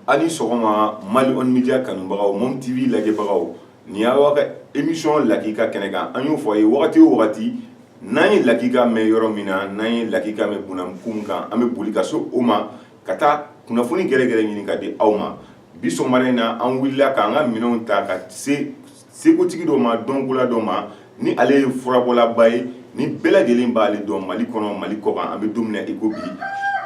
a ni sɔgɔma mali on media kanubagaw mom tv lajɛbagaw nin y'aw ka emisiyɔn lakika kɛnɛ kan an y'o fɔ a ye wagati o wagati n'an ye lakika mɛn yɔrɔ min na n'an ye lakika mɛn bunamukun kan an bɛ boli ka so o ma ka taa kunnafoni gɛrɛgɛrɛ ɲini k'a di aw ma bi sɔgɔmada in na an wulila ka an ka minɛnw ta ka se sekotigi dɔ ma dɔnkola dɔ ma ni ale ye furabɔlaba ye ni bɛɛ lajɛlen b'ale dɔn mali kɔnɔ mali kɔkan an bɛ don min na i ko bi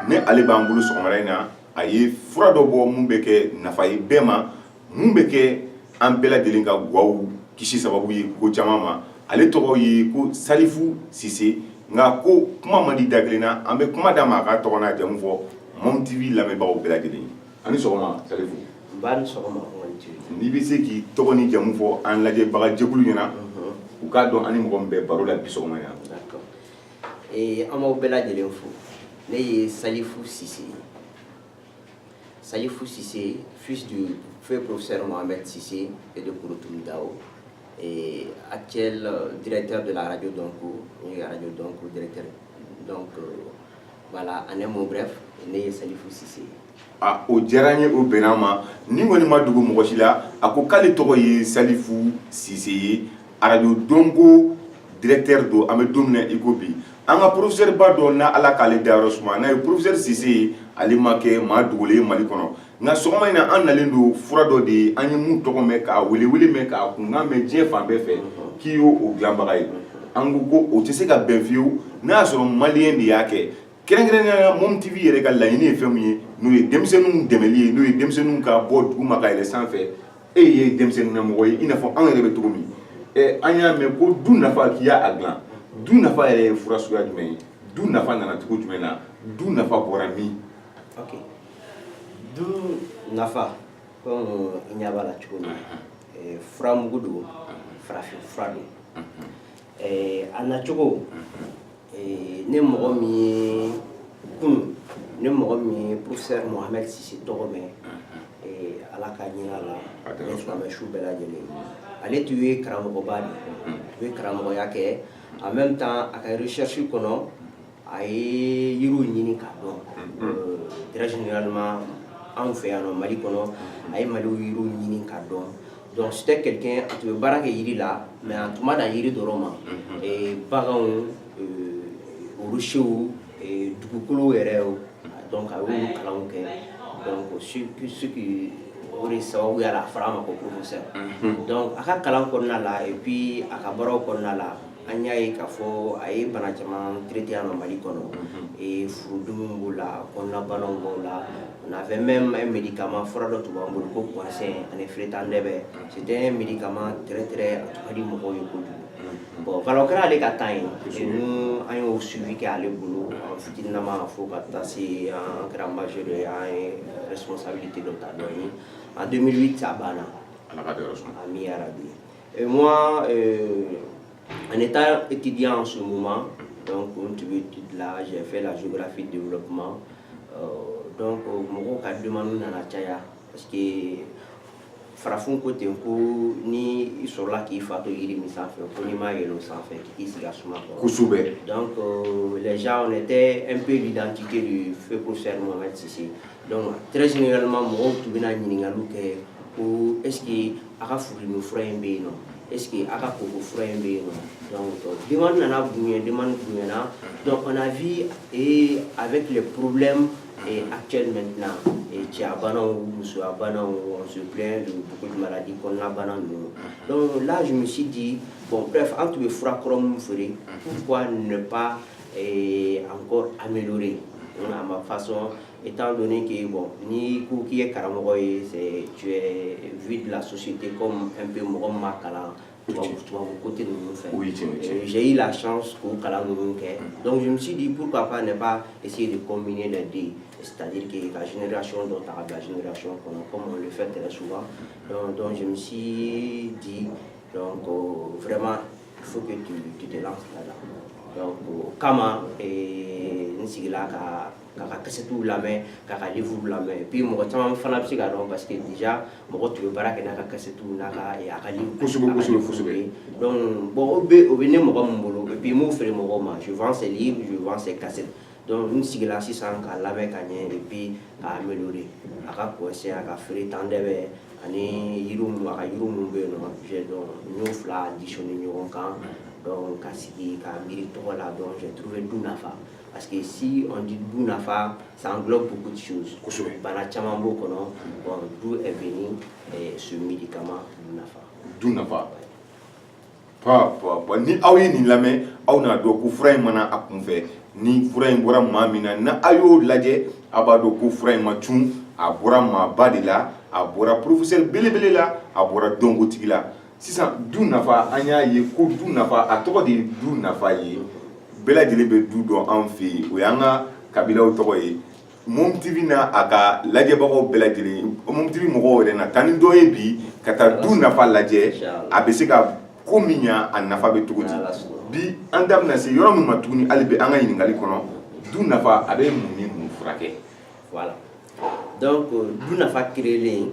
ni ale b'an bolo sɔgɔmada in na a ye fura dɔ bɔ min bɛ kɛ nafa ye bɛɛ ma min bɛ kɛ an bɛɛ lajɛlen ka gaw kisi sababu ye ko caman ma ale tɔgɔ ye ko salifu sise nka ko kuma man di da kelen na an bɛ kuma d'a ma a ka tɔgɔ n'a jamu fɔ mom tv lamɛnbagaw bɛɛ lajɛlen ye A ni sɔgɔma Salifu. N ba ni sɔgɔma N'i bɛ se k'i tɔgɔ n'i jamu fɔ an lajɛbaga jɛkulu ɲɛna. Unhun. U k'a dɔn an ni mɔgɔ min bɛ baro la bi sɔgɔma in na. D'accord ee an b'aw bɛɛ lajɛlen fo. Ne ye Salifu Sise ye. Salifu Sise fils du feu professeur Mohamed Sise et de Kouroutoum Dao et actuel directeur de la radio Donko ye radio Donko directeur donc Voilà, en un mot bref, ne ye Salifu Sise ye. Ah, o diyara n ye o bɛnna n ma nin kɔni ma dogo mɔgɔ si la a ko k'ale tɔgɔ ye salifu sise ye arajo donko directeur don an bɛ don min na i ko bi an ka professeur ba dɔ na ala k'ale dayɔrɔ suma n'a ye professeur sise ye ale ma kɛ maa dogolen ye mali kɔnɔ nka sɔgɔma in na an nalen don fura dɔ de ye an ye min tɔgɔ mɛn k'a welewele mɛn k'a kunkan mɛn diɲɛ fan bɛɛ fɛ k'i y'o o dilanbaga ye an ko ko o tɛ se ka bɛn fiyewu n'a y'a sɔrɔ maliyɛn de y'a kɛ kɛrɛnkɛrɛnnenya la mom tv yɛrɛ ka laɲini ye fɛn min ye n'o ye denmisɛnninw dɛmɛli ye n'o ye denmisɛnninw ka bɔ duguma ka yɛlɛ sanfɛ e ye denmisɛnnin na mɔgɔ ye i n'a fɔ anw yɛrɛ bɛ cogo min ɛ an y'a mɛn ko du nafa k'i y'a dilan du nafa yɛrɛ ye fura suguya jumɛn ye du nafa nana cogo jumɛn na du nafa bɔra min Du nafa comme i ɲa b'a la cogo min eh, furamugu don farafin fura don eh, a nacogo eh, ni mɔgɔ min ye kun ni mɔgɔ min ye professeur mohamed sise tɔgɔ mɛn ala ka hin'a la ni silamɛ su bɛɛ lajɛlen ale tun ye karamɔgɔba de ye tun ye karamɔgɔya kɛ en même temps a ka recherche kɔnɔ a ye yiriw ɲini k'a dɔn très généralement anw fɛ yan mali kɔnɔ a ye mali yiriw ɲini k'a dɔn donc c'était quelqu'un a tun bɛ baara kɛ yiri la mais a tun ma dan yiri dɔrɔn ma baganw rocherw dugukolo yɛrɛ donc a y'olu kalan kɛ donc ce qui o de sababuya la a fɔra a ma ko professeur donc a ka kalan kɔnɔna la et puis a ka baaraw kɔnɔna la an y'a ye k'a fɔ a ye bana caman traité yan nɔ Mali kɔnɔ ee furudimiw b'o la kɔnɔnabanaw b'o la on avait même un médicament fura dɔ tun b'an bolo ko Guasen ani Fretandɛbɛ c'était un médicament très très a tun ka di mɔgɔw ye kojugu bon voilà o kɛra ale ka temps ye nous an y'o suivi kɛ ale bolo an fitininama fo ka taa se an kɛra majeur ye an ye responsabilité dɔ ta dɔ ye en 2008 a banna Ala ka dayɔrɔ suma. ami yarabi Et moi, euh, en étant étudiant en ce moment, donc n tun bɛ étude la, j'ai fait la géographie de développement. Euh, donc, euh, mɔgɔw ka demande nana caya parce que farafin ko ten ko ni i sɔrɔla k'i fa to yiri min sanfɛ ko n'i m'a yɛlɛ o sanfɛ k'i sigi a suma kɔrɔ kosɛbɛ donc euh, les gens on était un peu l'identité du feu professeur Mohamed Sise donc très généralement mɔgɔw tun bɛna ɲininkaliw kɛ ko est ce que a ka furudimi fura in bɛ yen nɔ est-ce que a ka koko fura in bɛ yen nɔ donc demande nana bonya demande bonyana donc on a vu et avec les problèmes et actuels maintenant et cɛya banaw musoya banaw on se plaint de beaucoup de maladies kɔnɔna bana ninnu donc là je me suis dit bon bref an tun bɛ fura kɔrɔ minnu feere pourquoi ne pas et encore améliorer à ma façon I t' dɔn k'i bɔ ni ko k'i ye karamɔgɔ ye v bila sosi tɛ ko fɛn bɛ mɔgɔ ma kalan ko tɛ fɛzyi la ko kalan ninnu kɛ dɔnkilimisidi buru ka pan de b' ese de ko mini dɛ de tajike ka jinɛinɛreyasiɔn dɔ ta ka bila jinɛinɛreyay kɔnɔ kɔmi fɛn tɛ su dɔnkilisi di ko fɛrɛma fo tun la o kama n sigilen ka k'a ka kasɛtiw lamɛn k'a ka livre lamɛn et puis mɔgɔ caman fana bɛ se k'a dɔn parce que déjà mɔgɔ tun bɛ baara kɛ n'a ka kasɛtiw n'a ka a ka livre kosɛbɛ kosɛbɛ kosɛbɛ donc bon o bɛ o bɛ ne mɔgɔ min bolo et puis n b'o feere mɔgɔw ma je vends ses livres je vends ses cassettes donc n sigila sisan k'a lamɛn ka ɲɛ et puis k'a améliorer a ka Guasen a ka Fretandɛbɛ ani yiri minnu a ka yiri minnu bɛ yen nɔ je donc n y'o fila additionner ɲɔgɔn kan donc ka sigi ka miiri tɔgɔ la donc j'ai trouvé du nafa Parce que si on dit du nafa, ça englobe beaucoup de choses. Bana caman b'o kɔnɔ, bon, d'où est venu eh, ce médicament du nafa. Du nafa. Pa, pa, pa, ni aw ye nin lamɛn, aw n'a dɔn ko fura in ma na a kunfɛ, ni fura in bɔra maa min na, n'a y'o lajɛ, a b'a dɔn ko fura in ma cun, a bɔra maaba de la, a bɔra professeur belebele la, a bɔra dɔnkotigi la. sisan du nafa an y'a ye ko du nafa a tɔgɔ de ye du nafa ye bɛɛ lajɛlen bɛ du dɔn an fɛ yen o y'an ka kabilaw tɔgɔ ye mom tv n'a ka lajɛbagaw bɛɛ lajɛlen mom tv mɔgɔw yɛrɛ na taa ni dɔ ye bi ka taa du nafa lajɛ a bɛ se ka ko min ɲa a nafa bɛ cogo di bi an da bɛna se yɔrɔ min ma tuguni hali bi an ka ɲininkali kɔnɔ du nafa a bɛ mun ni mun furakɛ voilà donc du nafa créelen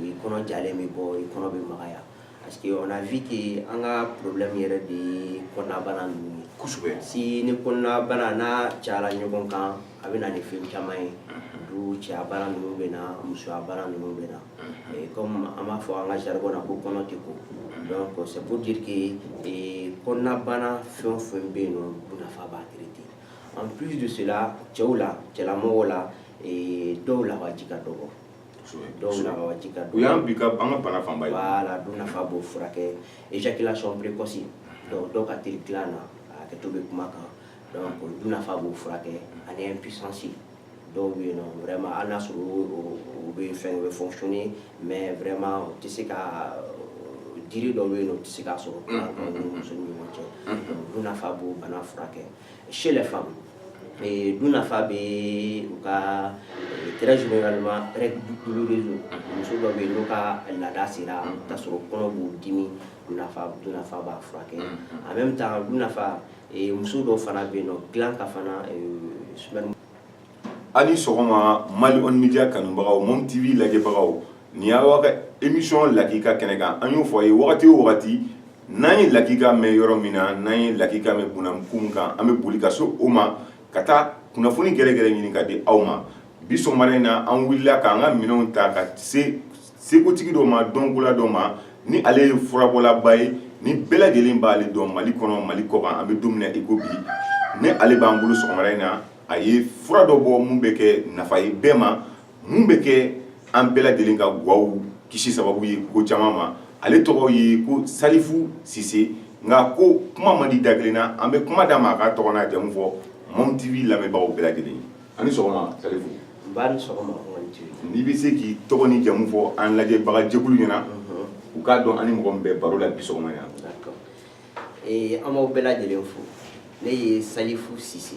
i kɔnɔ jalen bɛ bɔ i kɔnɔ bɛ magaya parce que on a vu que an ka problème yɛrɛ de ye kɔnɔnabana ninnu ye kosɛbɛ si ni kɔnɔnabana n'a cayara ɲɔgɔn kan a bɛ na ni fɛn caman ye donc cɛya bana ninnu bɛ na musoya bana ninnu bɛ na Et comme an b'a fɔ an ka jargon na ko kɔnɔ tɛ ko donc c'est pour dire que eh, kɔnɔnabana fɛn o fɛn bɛ yen nɔ du nafa b'a traiter en plus de cela cɛw la cɛlamɔgɔw la eh, dɔw lawaji ka dɔgɔ dɔw lawaji ka dɔgɔ o y'an bi ka an ka bana fanba ye voilà du nafa b'o furakɛ éjaculation précoce donc dɔw ka teli dilan na a hakɛto bɛ kuma kan donc du nafa b'o furakɛ ani impuissance dɔw bɛ yen nɔ vraiment hali n'a sɔrɔ u bɛ fɛn u bɛ fonctionner mais vraiment u tɛ se ka diri dɔw bɛ yen nɔ u tɛ se k'a sɔrɔ muso ni ɲɔgɔn cɛ du nafa b'o bana furakɛ chez les femmes Dun nafa bɛ u ka g muso dɔ bɛ yen' ka laada sera ka sɔrɔ kɔnɔ b'u dimi b'a furakɛ a bɛ taa nafa muso dɔ fana bɛ yen nɔ dila ka fana su ani sɔgɔma mali midiya kanubagaw minnu tɛ'i lajɛbagaw Nin y'aw ka émission lakika kɛnɛ kan an y'o fɔ a ye wagati o wagati n'an ye lakika mɛn yɔrɔ min na n'an ye lakika mɛn bkun kan an bɛ boli ka se o ma ka taa kunnafoni gɛrɛ gɛrɛ ɲini ka di aw ma bi sɔgɔma in na an wulila k'an ka minɛnw ta ka se sekotigi dɔ ma dɔnkola dɔ ma ni ale ye furabɔlaba ye ni bɛɛ lajɛlen b'ale dɔn mali kɔnɔ mali kɔkan an bɛ don min na i ko bi ni ale b'an bolo sɔgɔma in na a ye fura dɔ bɔ min bɛ kɛ nafa ye bɛɛ ma Mun bɛ kɛ an bɛɛ lajɛlen ka gwaw kisi sababu ye ko caman ma ale tɔgɔ ye ko Salifu Sise nka ko kuma man di da kelen na an bɛ kuma d'a ma a ka tɔgɔ n'a jamu fɔ Mɔmu TV lamɛnbagaw bɛɛ lajɛlen ani sɔgɔma Salifu n'i bɛ se k'i tɔgɔ ni jamu fɔ an lajɛbagajɛkulu ɲɛna u k'a dɔn an ni mɔgɔ min bɛ baro la bi sɔgɔma yan an b'aw bɛɛ lajɛlen fo ne ye Salifu Sise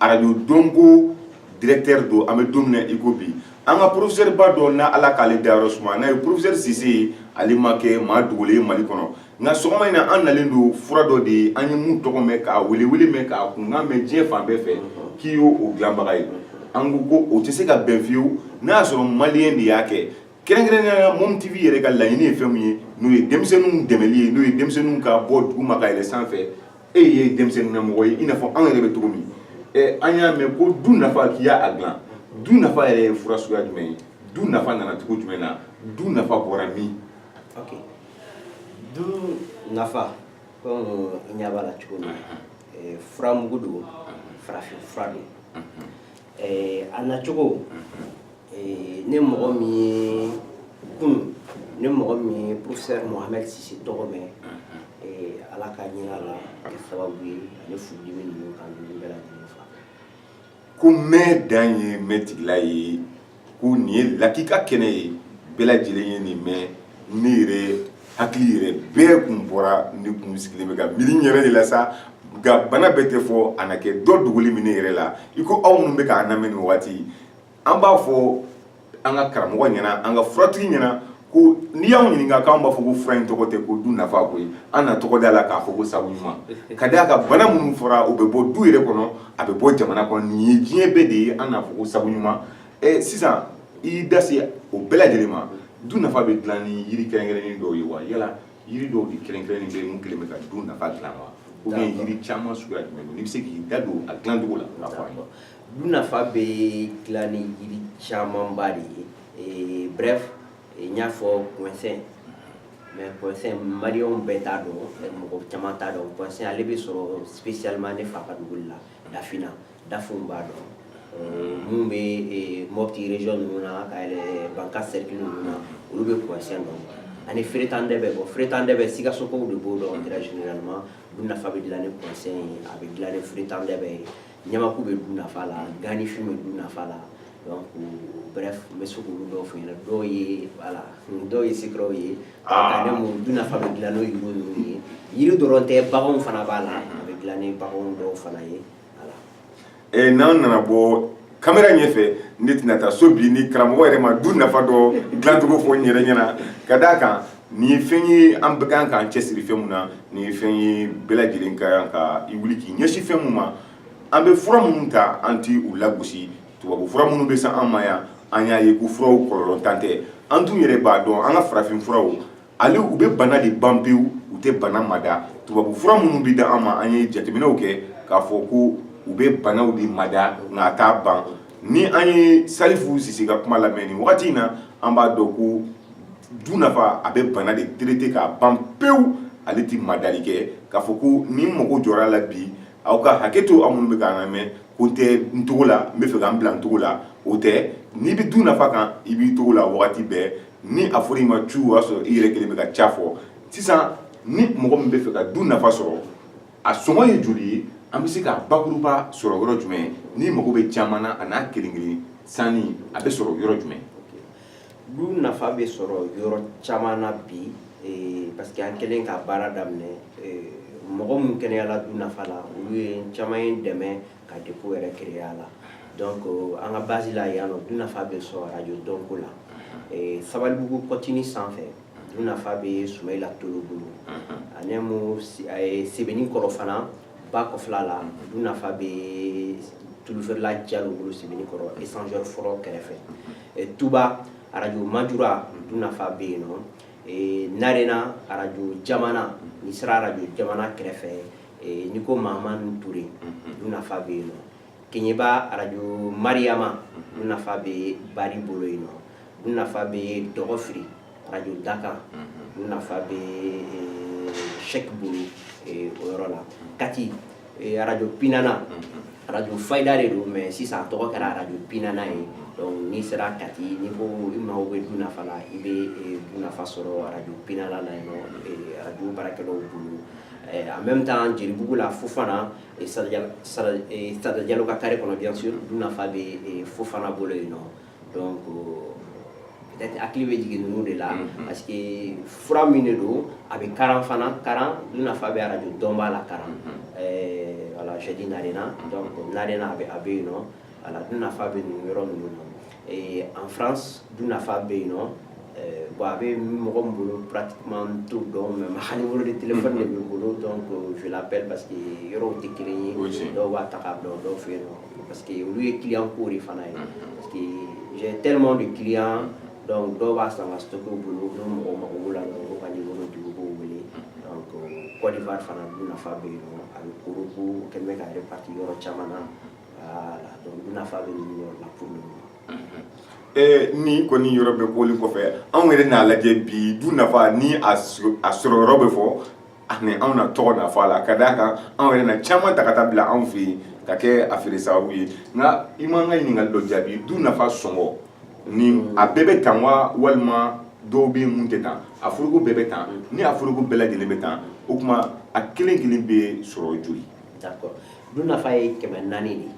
arajo Donko directeur don an bɛ don min na i ko bi an ka professeur ba dɔ na Ala k'ale dayɔrɔ suma n'a ye professeur Sise ye ale ma kɛ maa dogolen ye Mali kɔnɔ nka sɔgɔma in na an nalen don fura dɔ de ye an ye min tɔgɔ mɛn k'a welewele mɛn k'a kunkan mɛn diɲɛ fan bɛɛ fɛ k'i y'o dilanbaga ye an ko ko o tɛ se ka bɛn fiyewu n'a y'a sɔrɔ maliyɛn de y'a kɛ kɛrɛnkɛrɛnnenya la Mɔmu TV yɛrɛ ka laɲini ye fɛn min ye n'o ye denmisɛnninw dɛmɛli ye n'o ye denmisɛnninw ka bɔ duguma ka yɛlɛn sanfɛ e ye denmisɛnnin na mɔgɔ ye i n'a fɔ anw yɛrɛ bɛ cogo min ɛ an y'a mɛn ko du nafa k'i y'a dilan du nafa yɛrɛ ye fura suguya jumɛn ye du nafa nana cogo jumɛn na du nafa bɔra min ok du nafa komi i ɲɛ b'a la cogo min eh, furamugu don farafin fura don Eh, a nacogo ni mɔgɔ min ye kun ni mɔgɔ min ye professeur Mohamed Sise tɔgɔ mɛn Ala ka hinɛ a la a kɛ sababu ye ani furudimi ninnu kan ninnu bɛɛ lajɛlen fa ko mɛ dan ye mɛ tigila ye ko nin ye lakika kɛnɛ ye bɛɛ lajɛlen ye nin mɛ ne yɛrɛ hakili yɛrɛ bɛɛ kun bɔra ne kun sulilen bɛ ka miiri n yɛrɛ de la sa nka bana bɛɛ tɛ fɔ a na kɛ dɔ dogolen bɛ ne yɛrɛ la i ko aw minnu bɛ k'a lamɛn nin waati an b'a fɔ an ka karamɔgɔ ɲɛna an ka furatigi ɲɛna ko n'i y'an ɲininka k'an b'a fɔ ko fura in tɔgɔ tɛ ko du nafa koyi an na tɔgɔ d'a la k'a fɔ ko sabu ɲuman ka d'a kan bana minnu fɔra o bɛ bɔ du yɛrɛ kɔnɔ a bɛ bɔ jamana kɔnɔ nin ye diɲɛ bɛɛ de ye an n'a fɔ ko sabu ɲuman ɛ sisan i y'i da se o bɛɛ lajɛlen ma du nafa bɛ dilan ni yiri kɛrɛnkɛrɛnnen dɔw ye wa yala yiri dɔw de kɛrɛnkɛrɛnnen bɛ mun kelen bɛ ka du nafa dilan wa ou bien yiri caman suguya jumɛn don n'i bɛ se k'i da don a dilancogo la k'a fɔ an ye Du nafa bɛ dilan ni jiri camanba de ye ee bref n y'a fɔ kɔnsɛn mais kɔnsɛn maliyɛnw bɛɛ t'a dɔn mɔgɔ caman t'a dɔn kɔnsɛn ale bɛ sɔrɔ spécialement ne fa ka dugu la Dafina Dafinw b'a dɔn minnu bɛ Mopti région ninnu na ka yɛlɛn Bankass cercle ninnu na olu bɛ kɔnsɛn dɔn ani feretadɛbɛ bon feretadɛbɛ Sikasokaw de b'o dɔn très généralement du nafa bɛ dilan ni kɔnsɛn ye a bɛ dilan ni feretadɛbɛ ye ɲamaku bɛ du nafa la ganifin bɛ du nafa la donc bref n bɛ se k'olu dɔw fɔ ɲɛna dɔw ye voilà dɔw ye secret ye ka ne mun du nafa bɛ dilan n'o yiri ninnu ye yiri dɔrɔn tɛ baganw fana b'a la a bɛ dilan ni baganw dɔw fana ye voilà ee n'an nana bɔ kamera ɲɛfɛ ne tɛna taa so bi ni karamɔgɔ yɛrɛ ma du nafa dɔ dilancogo fɔ n yɛrɛ ɲɛna ka d'a kan Nin ye fɛn ye an bɛɛ kan k'an cɛsiri fɛn min na nin ye fɛn ye bɛɛ lajɛlen ka kan ka i wuli k'i ɲɛsin fɛn min ma an bɛ fura minnu ta an tɛ u lagosi tubabu fura minnu bɛ se an ma yan an y'a ye ko furaw kɔlɔlɔntan tɛ an dun yɛrɛ b'a dɔn an ka farafin furaw ale u bɛ bana de ban pewu u tɛ bana mada tubabu fura minnu bɛ da an ma an ye jateminɛw kɛ k'a fɔ ko u bɛ banaw de mada nka a t'a ban ni an ye salifu sise ka kuma lamɛn nin wagati in na an b'a dɔn ko du nafa a bɛ bana de traiter k'a ban pewu ale tɛ madali kɛ k'a fɔ ko ni n mago jɔra a la bi aw ka hakɛ to aw minnu bɛ k'an lamɛn ko n tɛ n togo la n bɛ fɛ ka n bila n togo la o tɛ n'i bɛ du nafa kan i b'i togo la wagati bɛɛ ni a fɔra i ma cu o y'a sɔrɔ i yɛrɛ kelen bɛ ka ca fɔ sisan ni mɔgɔ min bɛ fɛ ka du nafa sɔrɔ a sɔngɔ ye joli ye an bɛ se ka bakuruba sɔrɔ yɔrɔ jumɛn n'i mago bɛ caman na a n'a kelen kelen sanni a bɛ sɔrɔ yɔrɔ jumɛn du nafa bɛ sɔrɔ yɔrɔ caman na bi eh, parce que an kɛlen ka baara daminɛ eh, mɔgɔ minnu kɛnɛyala du nafa la olu ye caman ye dɛmɛ ka dépôt yɛrɛ créer a la donc eh, an ka base la yan nɔ du nafa bɛ sɔrɔ radio dɔnko la sabalibugu kɔtini sanfɛ du nafa bɛ sumayila tolo bolo ani mu sebeninkɔrɔ fana ba kɔfɛla la du nafa bɛ tulufeerela jalo bolo sebeninkɔrɔ échangeur fɔlɔ kɛrɛfɛ eh, tuba arajo majura du nafa bɛ yen nɔ eh, narena arajo jamana n'i sera arajo jamana kɛrɛfɛ eh, n'i ko mahamani ture du nafa bɛ yen nɔ keɲɛba arajo mariyama du nafa bɛ bari bolo yen nɔ du nafa bɛ dɔgɔfiri arajo dakan du nafa bɛ sɛki bolo o yɔrɔ la kati arajo pinana arajo fayida de don mais sisan a tɔgɔ kɛra arajo pinana ye donc n'i sera kati n'i ko i mago bɛ du nafa la i bɛ du nafa sɔrɔ arajo pinana la yen nɔ arajo baarakɛlaw bolo en même temps jelibugu la fofana Sada jalo ka carré kɔnɔ bien sûr du nafa bɛ fofana bolo yen nɔ donc peut-être hakili bɛ jigin ninnu de la parce que fura min de don a bɛ karan fana karan du nafa bɛ arajo dɔnba la karan voilà j'ai dit narena donc narena a bɛ yen nɔ Ala du nafa bɛ nin yɔrɔ ninnu na ee an fana du nafa bɛ yen nɔ bon a bɛ mɔgɔ min bolo pati to dɔn mɛ ma hali wolo de tele de bɛ bolo dɔn ko fila bɛɛ parce que yɔrɔw tɛ kelen ye dɔw b'a ta k'a dɔn dɔw fɛ yen nɔ parce que olu ye kiyan ko de fana ye parce que j teelima de kiyan dɔw b'a san ka to bolo n mɔgɔ ma wolo la dɔn ka wolo dugu b'o wele kɔɔrifa fana du nafa bɛ yen a bɛ koko kɛmɛ bɛ ka pati yɔrɔ caman na ni kɔni yɔrɔ bɛ bɔli kɔfɛ anw yɛrɛ n'a lajɛ bi du nafa ni a sɔrɔ yɔrɔ bɛ fɔ ani anw na tɔgɔ na fɔ a la ka d'a kan anw yɛrɛ na caman ta ka taa bila anw fɛ yen ka kɛ a feere sababu ye nka i m'an ka ɲininkali dɔ jaabi du nafa sɔngɔ ni a bɛɛ bɛ tan wa walima dɔw bɛ minnu tɛ tan a foroko bɛɛ bɛ tan ni a foroko bɛɛ lajɛlen bɛ tan o tuma a kelen kelen bɛ sɔrɔ joli du nafa ye kɛmɛ naani de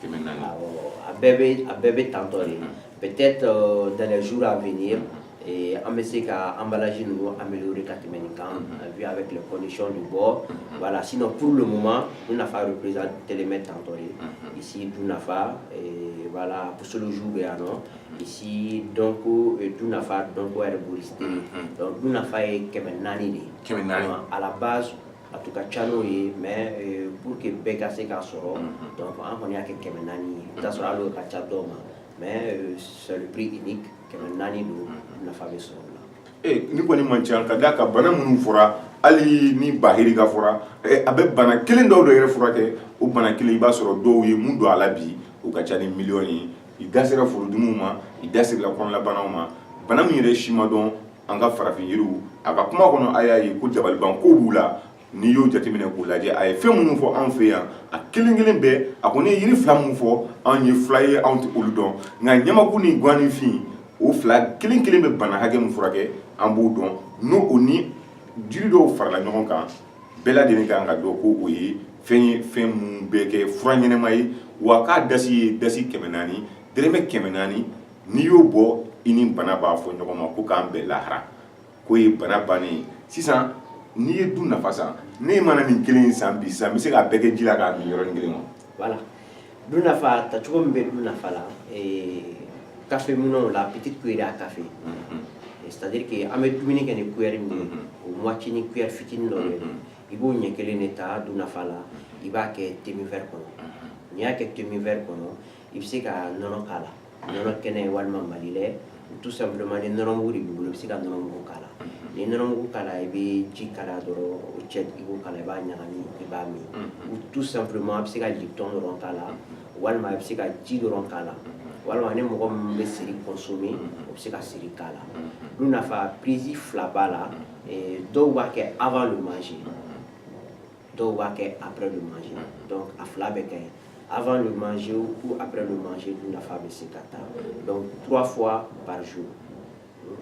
kɛmɛ naani awɔ a bɛɛ bɛ a bɛɛ bɛ tantɔ de peut-être euh, dans les jours à venir et an bɛ se ka emballage ninnu améliorer ka tɛmɛ nin kan vu avec les conditions du bord voilà sinon pour le moment du nafa représentelen bɛ tantɔ de ici du nafa et voilà posologie bɛ yan nɔ ici donc euh, du nafa donc herboriste donc du nafa ye kɛmɛ naani de ye kɛmɛ naani à la base a tun ka ca n'o ye mais euh, pour que bɛɛ ka se k'a sɔrɔ mhm. donc an kɔni y'a kɛ kɛmɛ naani ye i bɛ t'a sɔrɔ hali o ka ca dɔw ma mais euh, c'est le prix unique kɛmɛ naani don mhm. nafa bɛ sɔrɔ o la eh, nin kɔni man ca ka d'a kan bana minnu fɔra hali ni bahiri ka fɔra eh, a bɛ bana kelen dɔ dɔ yɛrɛ furakɛ o bana kelen i b'a sɔrɔ dɔw ye min don a la bi o ka ca ni miliyɔn ye i da sera furudimiw ma i da sera kɔnɔlabanaw ma bana min yɛrɛ si ma dɔn an ka farafin yiriw a ka kuma kɔnɔ a y'a ye ko dabaliban ko b'u la n'i y'o jateminɛ k'u lajɛ a ye fɛn minnu fɔ anw fɛ yan a kelen kelen bɛɛ a kɔni ye yiri fila minnu fɔ anw ye fila ye anw tɛ olu dɔn nka ɲamaku ni ganifin o fila kelen kelen bɛ bana hakɛ min furakɛ an b'o dɔn n'o o ni jiri dɔw farala ɲɔgɔn kan bɛɛ lajɛlen kan k'a dɔn ko o ye fɛn ye fɛn minnu bɛ kɛ fura ɲɛnama ye wa k'a da sigi ye da sigi kɛmɛ naani dɛrɛmɛ kɛmɛ naani n'i y'o bɔ i ni bana b'a fɔ ɲɔgɔn ma ko k'an bɛn lahara k'o ye bana bannen ye sisan n'i ye du nafa san ne mana nin kelen in san bi sisan n bɛ se k'a bɛɛ kɛ ji la k'a min yɔrɔnin kelen wa voilà du nafa tacogo min bɛ du nafa la café eh, minɛnw la petite cuillère à café mm-hmm. eh, c'est à dire que an bɛ dumuni kɛ ni cuillère min ye mm-hmm. o moitié ni cuillère fitinin dɔ bɛ mm-hmm. i b'o ɲɛ kelen de ta du nafa la i b'a kɛ demi verre kɔnɔ n'i y'a kɛ demi verre kɔnɔ i bɛ se ka nɔnɔ k'a la nɔnɔ kɛnɛ walima Mali Lait tout simplement ni nɔnɔmugu de b'i bolo i bɛ se ka nɔnɔmugu k'a la ni nɔnɔmugu k'a la i bɛ ji kalaya dɔrɔn o cɛ i b'o k'a la i b'a ɲagami i b'a min ou tout simplement a bɛ se ka lipton dɔrɔn k'a la walima a bɛ se ka ji dɔrɔn k'a la walima ni mɔgɔ min bɛ seri consommer o bɛ se ka seri k'a la dun nafa prise fila b'a la dɔw b'a kɛ avant le manger dɔw b'a kɛ après le manger donc a fila bɛ kɛ avant le manger ou après le manger dun nafa bɛ se ka ta donc trois fois par jour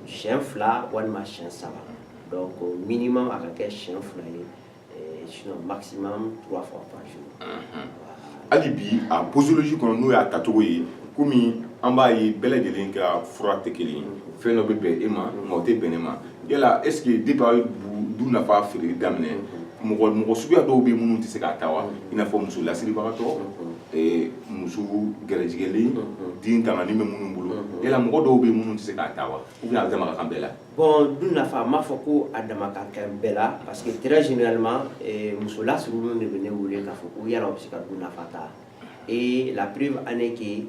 siɲɛ fila walima siɲɛ saba donc minimum a ka kɛ siɲɛ fila ye sinon maximum trois fois par jour hali bi a posologie kɔnɔ n'o y'a tacogo ye komi an b'a ye bɛɛ lajɛlen ka fura tɛ kelen ye fɛn dɔ bɛ bɛn e ma nka o tɛ bɛn ne ma yala est ce que depuis aw ye dun nafa feereli daminɛ mɔgɔ mɔgɔ suguya dɔw bɛ minnu tɛ se k'a ta wa i n'a fɔ muso lasiribagatɔ muso gɛrɛjigɛlen den tangani bɛ minnu bolo yala mɔgɔ dɔw bɛ minnu tɛ se k'a ta wa ou bien a dama ka kan bɛɛ la Bon dun nafa n b'a fɔ ko a dama ka kan bɛɛ la parce que très généralement muso lasirilenw de bɛ ne wele k'a fɔ ko yala u bɛ se ka dun nafa ta et la preuve en est que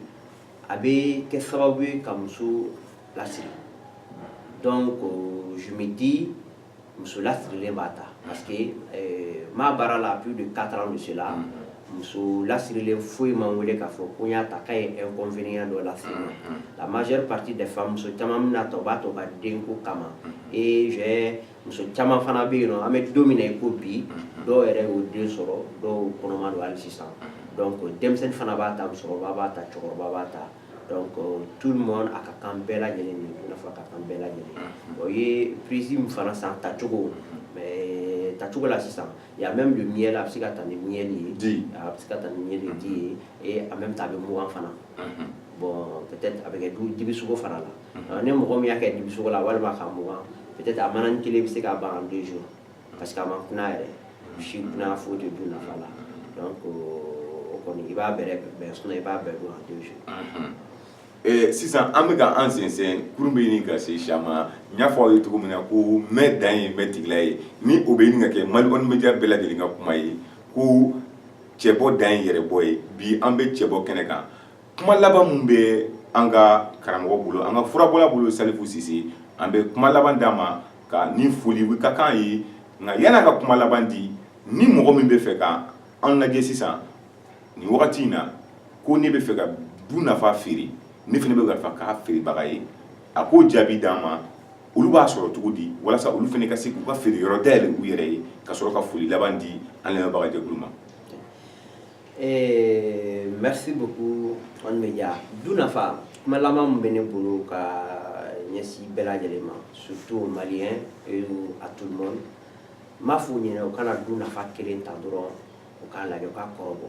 a bɛ kɛ sababu ye ka muso lasiri donc je me dis muso lasirilen b'a ta parce que n b'a baara la plus de quatre ans de cela muso lasirilen foyi ma n wele k'a fɔ ko n y'a ta k'a ye inconvénient dɔ lase n ma la majeure partie des femmes muso caman bɛna ta u b'a ta u ka denko kama et j'ai muso caman fana bɛ yen n'an bɛ don min na i ko bi dɔw yɛrɛ y'o den sɔrɔ dɔw kɔnɔma don hali sisan donc denmisɛnnin fana b'a ta musokɔrɔba b'a ta cɛkɔrɔba b'a ta donc tout le monde a ka kan bɛɛ lajɛlen de i n'a fɔ a ka kan bɛɛ lajɛlen o ye prise min fana san tacogo mais tacogo la sisan a bɛ don mi la a bɛ se ka taa ni mili ye di a bɛ se ka taa ni mili di ye ee a bɛ taa a bɛ mɔgɔugan fana bɔn a bɛ kɛ du dibisogo fana la ni mɔgɔ min y'a kɛ dibisogo la walima ka mɔgɔugan a mana ni kelen bɛ se ka ban don su pa que a ma kun yɛrɛ si kun fo de dun nafa la ko o kɔni i b'a bɛɛ bɛn sun i b'a bɛɛ don don su Ee sisan an bɛ ka an sɛnsɛn kurun bɛ ɲini ka se Siya ma, n y'a fɔ aw ye cogo min na ko mɛn dan ye mɛn tigila ye, ni o bɛ ɲini ka kɛ Mali kɔnɔ media bɛɛ lajɛlen ka kuma ye ko cɛbɔ dan ye yɛrɛbɔ ye, bi an bɛ cɛbɔ kɛnɛ kan, kuma laban min bɛ an ka karamɔgɔ bolo, an ka furabɔla bolo Salifu Sise, an bɛ kuma laban d'a ma ka ni foli ka kan a ye, nka yanni a ka kuma laban di, ni mɔgɔ min bɛ fɛ ka an lajɛ sisan, nin wagati in na ko ne bɛ fɛ ka du nafa feere ne fana bɛ ka k'a feerebaga ye a k'o jaabi d'an ma olu b'a sɔrɔ cogo di walasa olu fana ka se k'u ka feere yɔrɔ dayɛlɛ u yɛrɛ ye ka sɔrɔ ka foli laban di an lamɛnbagajɛkulu ma eh, merci beaucoup Kɔni Media du nafa kuma laban min bɛ ne bolo ka ɲɛsin bɛɛ lajɛlen ma surtout aux Maliens et à tout le monde n b'a f'u ɲɛna u kana du nafa kelen ta dɔrɔn u k'a lajɛ k'a kɔrɔbɔ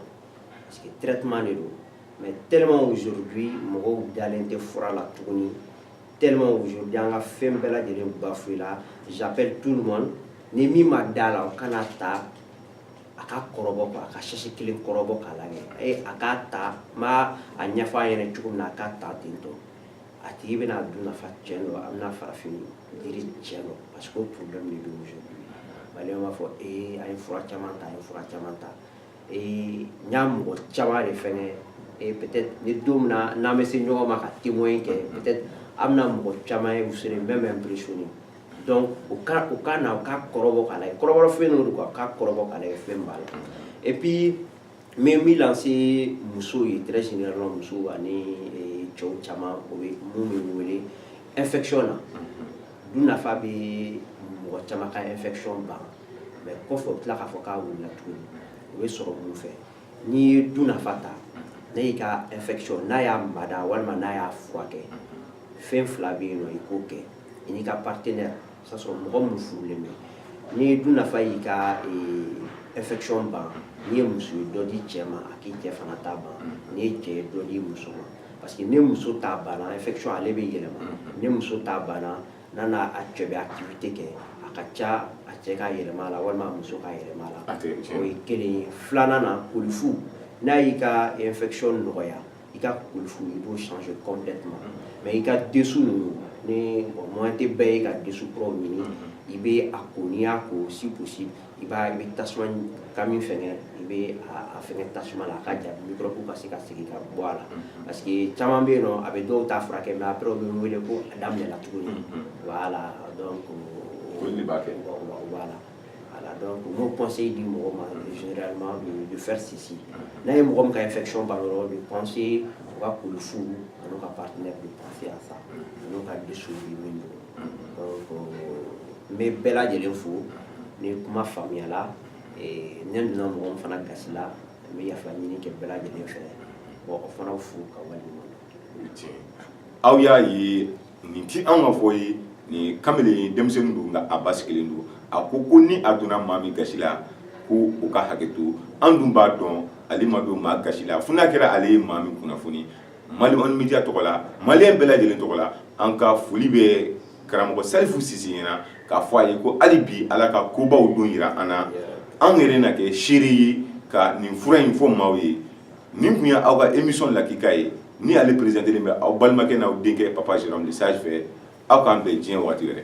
parce que traitement de don mais tellement aujourd'hui mɔgɔw dalen tɛ fura la tuguni tellement aujourd'hui an ka fɛn bɛɛ lajɛlen bafoué la j'appelle tout le monde ni min ma da la o kana ta a ka kɔrɔbɔ quoi a ka sachet kelen kɔrɔbɔ k'a lajɛ e a k'a ta n b'a a ɲɛfɔ a ɲɛna cogo min na a k'a ta ten tɔ a tigi bɛna du nafa tiɲɛ dɔn a bɛna farafin Jiri cɛ ma parce que kun bɛ min don muso ale b'a fɔ ee a ye fura caman ta a ye fura caman ta ee n y'a mɔgɔ caman de fɛn kɛ ni don min na n'an bɛ se ɲɔgɔn ma ka temo in kɛ an bɛna mɔgɔ caman ye muso bɛɛ bɛ bi sun ye dɔnku u ka u ka na u ka kɔrɔ kɔrɔ fɛn don ka ka kɔrɔ fɛn b'a la epi N bɛ min lancer musow ye très généralement musow ani cɛw caman o ye minnu bɛ wele infection na du nafa bɛ mɔgɔ caman ka infection ban mais kɔfɛ u bɛ tila k'a fɔ k'a wulila tuguni o bɛ sɔrɔ mun fɛ n'i ye du nafa ta n'a y'i ka infection n'a y'a mada walima n'a y'a furakɛ fɛn fila bɛ yen nɔ i k'o kɛ i n'i ka partenaire O y'a sɔrɔ mɔgɔ minnu furulen bɛ n'i ye du nafa y'i ka infection ban n'i ye muso ye dɔ di cɛ ma a k'i cɛ fana ta ban n'i ye cɛ ye dɔ di muso ma parce que ni muso ta banna infection ale bɛ yɛlɛma ni muso ta banna n'a n'a cɛ bɛ activité kɛ a ka ca a cɛ ka yɛlɛma a la walima a muso ka yɛlɛma a la o ye kelen ye filanan na kolifu n'a y'i ka infection nɔgɔya i ka kolifu i b'o changer complètement mais i ka dessous ninnu ni moyen tɛ bɛɛ ye ka dessous kuraw ɲini i bɛ a ko n'i y'a ko si possible i b'a i bɛ tasuma ka min fɛngɛ i bɛ a fɛngɛ tasuma la a ka ja microbe ka se ka segin ka bɔ a la parce que caman bɛ yen nɔ a bɛ dɔw ta furakɛ mais après u bɛ n wele ko a daminɛna tuguni voilà donc o de b'a kɛ voilà Mɔgɔ kɔnse di mɔgɔ ma fɛsi n'a ye mɔgɔ min ka fɛcɔn ban yɔrɔ de kɔnse u ka kulu fu ani ka pa ne biya sa ani ka dusu min n bɛ bɛɛ lajɛlen fo ni kuma faamuyayala n ne donna mɔgɔ fana gasila n bɛ yafa ɲini kɛ bɛɛ lajɛlen fɛ mɔgɔ fana fo ka wale aw y'a ye nin tɛ anw ka fɔ ye nin kamalen ye denmisɛnnin don nka a basigilen don a ko ko ni a donna maa min gasi la ko o ka hakɛ to an dun b'a dɔn ale ma don maa gasi la fo n'a kɛra ale ye maa min kunnafoni mali ɔni media tɔgɔ la maliyɛn bɛɛ lajɛlen tɔgɔ la an ka foli bɛ karamɔgɔ salifu sise ɲɛna k'a fɔ a ye ko hali bi ala ka kobaw don yira an na anw yɛrɛ na kɛ seere ye ka nin fura in fɔ maaw ye Nin tun ye aw ka émission lakika ye ni ale présenté len bɛ aw balimakɛ n'aw denkɛ papa Jérôme le Sage fɛ aw k'an bɛn diɲɛ waati wɛrɛ.